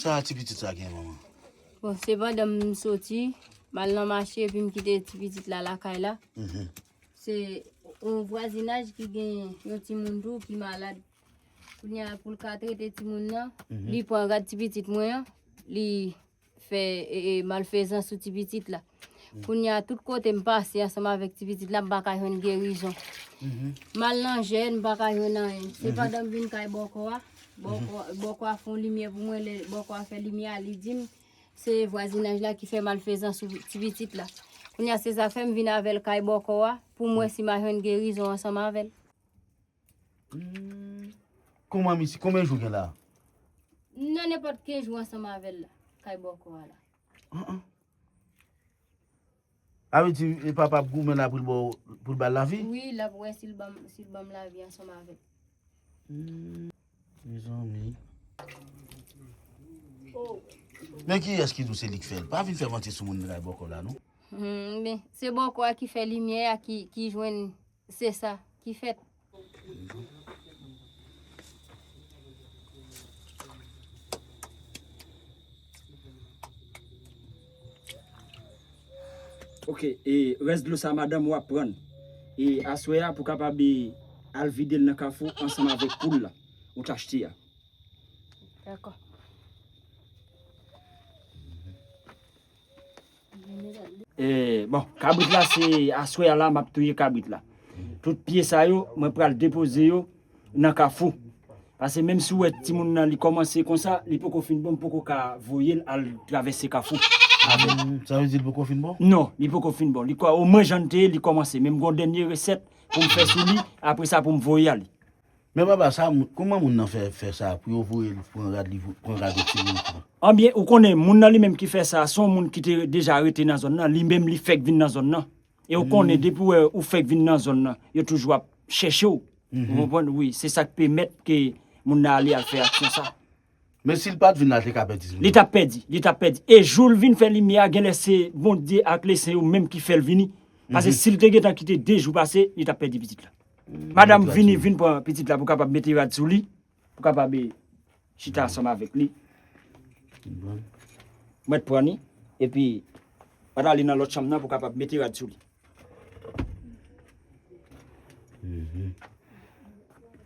Sa ti pitit sa gen manman? Bon, se pandan m soti, m al nan mache epi m kite ti pitit la lakay la. Mhm. Se yon vwazinaj ki gen yon timoun tou ki malad. Kounye a pou l ka trete timoun nan, mhm. li pran rad ti pitit mwen an, li fè malfezans sou ti pitit la. Kounye a, tout kote m pase ansanm avèk ti pitit la, m pa ka jwenn gerizon. Mhm. M al nan jèn, m pa ka jwenn anyen. Se mhm. pandan m vin kay bòkò a, bòkò a fon limyè pou mwen, bòkò a fè limyè a, li di m, se vwazinaj la ki fè malfezan sou ti pitit la. Kounye a, se sa fè m vin avèl kay bòkò a, pou mwen si ma jwenn gerizon ansanm avèl. Kouman misye, konbyen jou gen la? M nan nenpòt 15 jou ansanm avè l la, kay bòkò a la. An an. Sa vle di e papa ap goumen la pou l ba w, pou l ba l lavi? Wi, l ap wè si l banm, si l banm lavi ansanm avè l. Mezanmi. Men kiyès ki di w se li k fè l? Pa vin fè manti sou moun nan kay bòkò la non. Hum, men, se bòkò a ki fè limyè a, ki, ki jwenn. Se sa ki fèt. Ok e rès dlo sa madanm ou ap prann e aswè a pou kapab e al vide l nan kafou ansanm avèk poul la ou t achte a. Dakò. Bon, kabrit la se aswè a la map touye kabrit la. Tout pye sa yo, mwen pral depoze yo nan kafou. Pase menm si ou wè ti moun nan li kòmanse konsa, li poko fin bon, m poko ka voye l al travèse kafou. Sa vle di li poko fin bon? Non, li poko fin bon. Li kwa o mwen jan li te ye, li kòmanse. Men m gon dènye resèt pou m fè sou li, apre sa pou m voye ale. Men papa sa kouman moun nan fè fè sa pou yo voye l pran rad li pran rad yon ti moun pran. Anbyen ou konnen moun nan li menm ki fè sa son moun ki te deja rete nan zòn nan li menm li fèk vin nan zòn nan e ou konnen depi wè ou fèk vin nan zòn nan yo toujou ap chèche w ou konprann wi se sak pèmèt ke moun nan ale al fè aksyon sa. Men si l pat vin la l te ka pèdi. Li tap pèdi li tap pèdi e jou l vin fè limyè a genlè se Bondye ak leseyn yo menm ki fè l vini pase si l te gentan kite 2 jou pase li tap pèdi pitit la. Madam vini vin pran pitit la pou kapab mete rad sou li, pou kapab e chita ansanm avèk li. Mwen t pran ni, epi mwen t ale nan lòt chanm nan pou kapab mete rad sou li.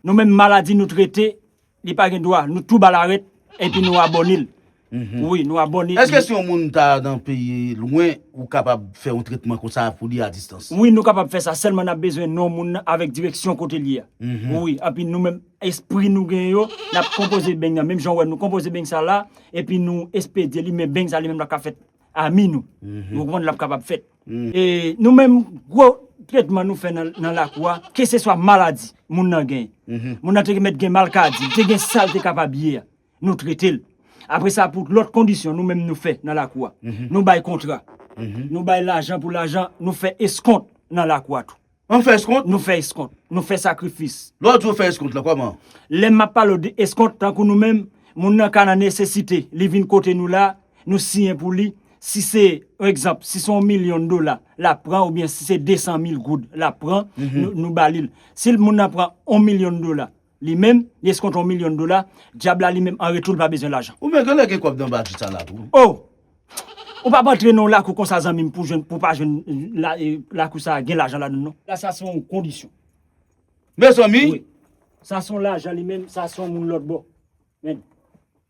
Nou menm maladi nou trete, Li pa gen dwa nou tou bal aret epi nou abonel wi nou abone. Eske si yon moun ta nan peyi lwen ou kapab fè yon tretman konsa pou li a distans. Wi nou kapab fè sa sèlman nap bezwen non moun nan avèk direksyon kote li a wi epi nou menm espri nou gen yo nap konpoze beny nan menm jan ou wè nou konpoze beny sa la epi nou espedye li men beny sa li menm la ka fèt Ami nou. Nou konprann lap kapab fèt. E nou menm gwo tretman nou fè nan lakou a, ke se swa maladi moun nan gen. Moun nan te gen mèt gen malkadi, li te gen sa l te kapab ye a, nou trete l. Apre sa pou lòt kondisyon nou menm nou fè nan lakou a. Nou bay kontra, nou bay lajan pou lajan, nou fè eskont nan lakou a tou. An fè eskont? Nou fè eskont. Nou fè sakrifis. Lè w di w fè eskont la, kòman? Lè m ap pale w de eskont, tankou nou menm, moun nan ka nan nesesite, li vin kote nou la, nou siyen pou li, si se, egzanp, si se yon milyon dola l ap pran oubyen si se 200 mil goud l ap pran, nou ba li l. Si moun nan pran yon milyon dola. Li menm, li eskonte yon milyon dola, dyab la li menm an retou li pa bezwen lajan. Ou menm genlè gen kòb nan bati sa la tou. Oh! Ou pap antre nan yon lakou konsa zanmi m pou jwenn, pou pa jwenn lakou sa gen lajan ladann non. La sa se yon kondisyon. Mezanmi! Wi. Sa se yon lajan li menm, sa se yon moun lòtbò. Men.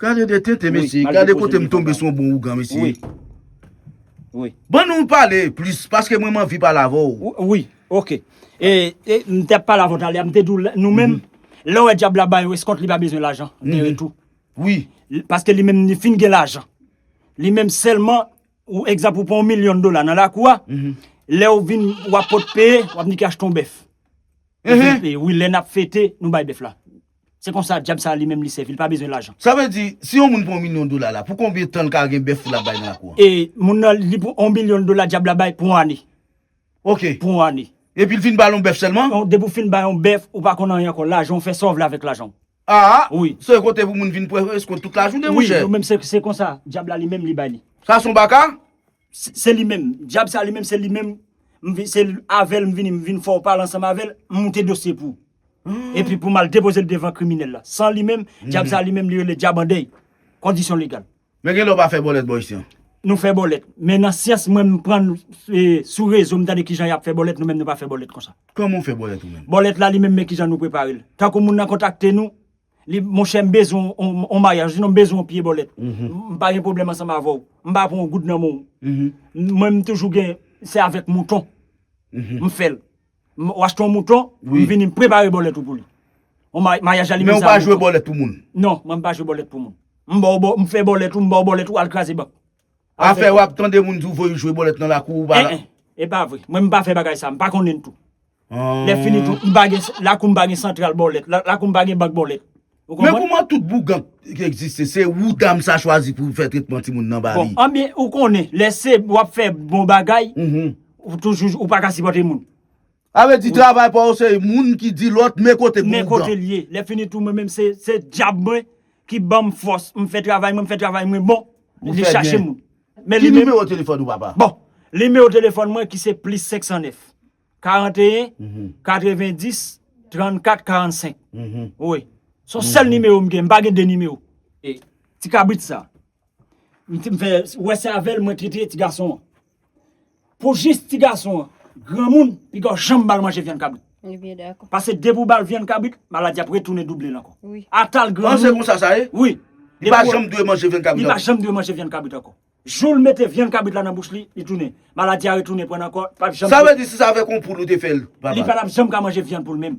Gade de tete mesye, gade kote m tonbe sou yon bon ougan mesye. Ban nou pale plis paske mwen m anvi pale avè w. Wi, ok. E m te ap pale avè w talè a, m te di w nou menm lè w wè dyab la bay ou eskont li pa bezwen lajan de retou. Wi. Paske li menm li fin gen lajan. Li menm sèlman ou egzanp ou pran yon milyon dola nan lakou a, lè ou vin w ap pot peye, w ap ni ki achte yon bèf. Wi, lè n ap fete nou bay bèf la. Se konsa dyab sa li menm li sèvi, li pa bezwen lajan. Sa vle di, si yon moun pran yon milyon dola la, pou konbyen tan l ka gen bèf pou l ap bay nan lakou an? E moun nan, li pran yon milyon dola dyab la bay pou yon ane. Ok. Pou yon ane. Epi l fin ba l yon bèf sèlman? Non, depi w fin ba l yon bèf, ou pa konn anyen ankò. Lajan w fè sa w vle avèk lajan w. Aa! Wi. Se kote pou moun vin pran eskont tout lajounen, monchè. Wi, yo menm se, se konsa dyab la li menm li bay li. Sa son baka? Se li menm. Dyab sa li menm se li menm, m vin, se avè l m vini, m vin fè yon pale ansanm avè l, m moute dosye pou ou. epi pou m al depoze l devan kriminèl la. San li menm, dyab sa li menm li rele dyab an dèy. Kondisyon legal. Men gen lè ou pa fè bòlèt bò isi an? Nou fè bòlèt. Men nan syans mwen m pran sou rezo m tande kijan y ap fè bòlèt nou menm nou pa fè bòlèt konsa. Kòman ou fè bòlèt ou menm? Bòlèt la li menm men kijan nou prepare l. Tankou moun nan kontakte nou, li monchè m bezwen on mayaj osinon m bezwen on pye bòlèt. M pa gen pwoblèm ansanm avè w. M pa pran on goud nan men w. Mwen m toujou gen se avèk mouton m fè l. Ou achte yon mouton, m vini m prepare bòlèt ou pou li. Yon maryaj la li mizè ak mouton. Men ou pa jwe bòlèt pou moun? Non, mwen m pa jwe bòlèt pou moun. M ba w, m fè bòlèt ou, m ba w bòlèt ou, al kraze bank. Afè w ap tande moun di w voye w jwe bòlèt nan lakou ou pa la. E pa vre. Mwen m pa fè bagay sa, m pa konnen l tou. Lè fini tou, m pa gen, lakou m pa gen santral bòlèt, lakou m pa gen bank bòlèt. Men kouman tout bougan ki egziste se ou dam sa chwazi pou fè tretman timoun nan ba li. Bon, anben ou konnen lè se wap fè bon bagay, ou toujou ou pa ka sipòte moun. Sa vle di travay pa ou se moun ki di lòt men kote bougan. Men kote li ye. Lè fini tou mwen menm se dyab mwen ki banm fòs m fè travay mwen, m fè travay mwen bon, li chache moun. Ki nimewo telefòn ou papa? Bon, nimewo telefòn mwen ki se plis 509. 41 90 34 45 wi son sèl nimewo m gen m pa gen 2 nimewo e ti kabrit sa m ti m fè wè se avèl mwen trete ti gason an pou jis ti gason an granmoun pigaw janm bal manje vyann kabrit pase depi w bal vyann kabrit maladi ap retounen double l ankò atal granmoun wi li pa janm dwe manje vyann kabrit ankò. Jou l mete vyann kabrit la nan bouch li, li tounen. Maladi a retounen pran l ankò, li pap janm. Sa vle di si sa avèk yon poul ou te fè l, papa? Li pa tap janm ka manje vyann poul menm.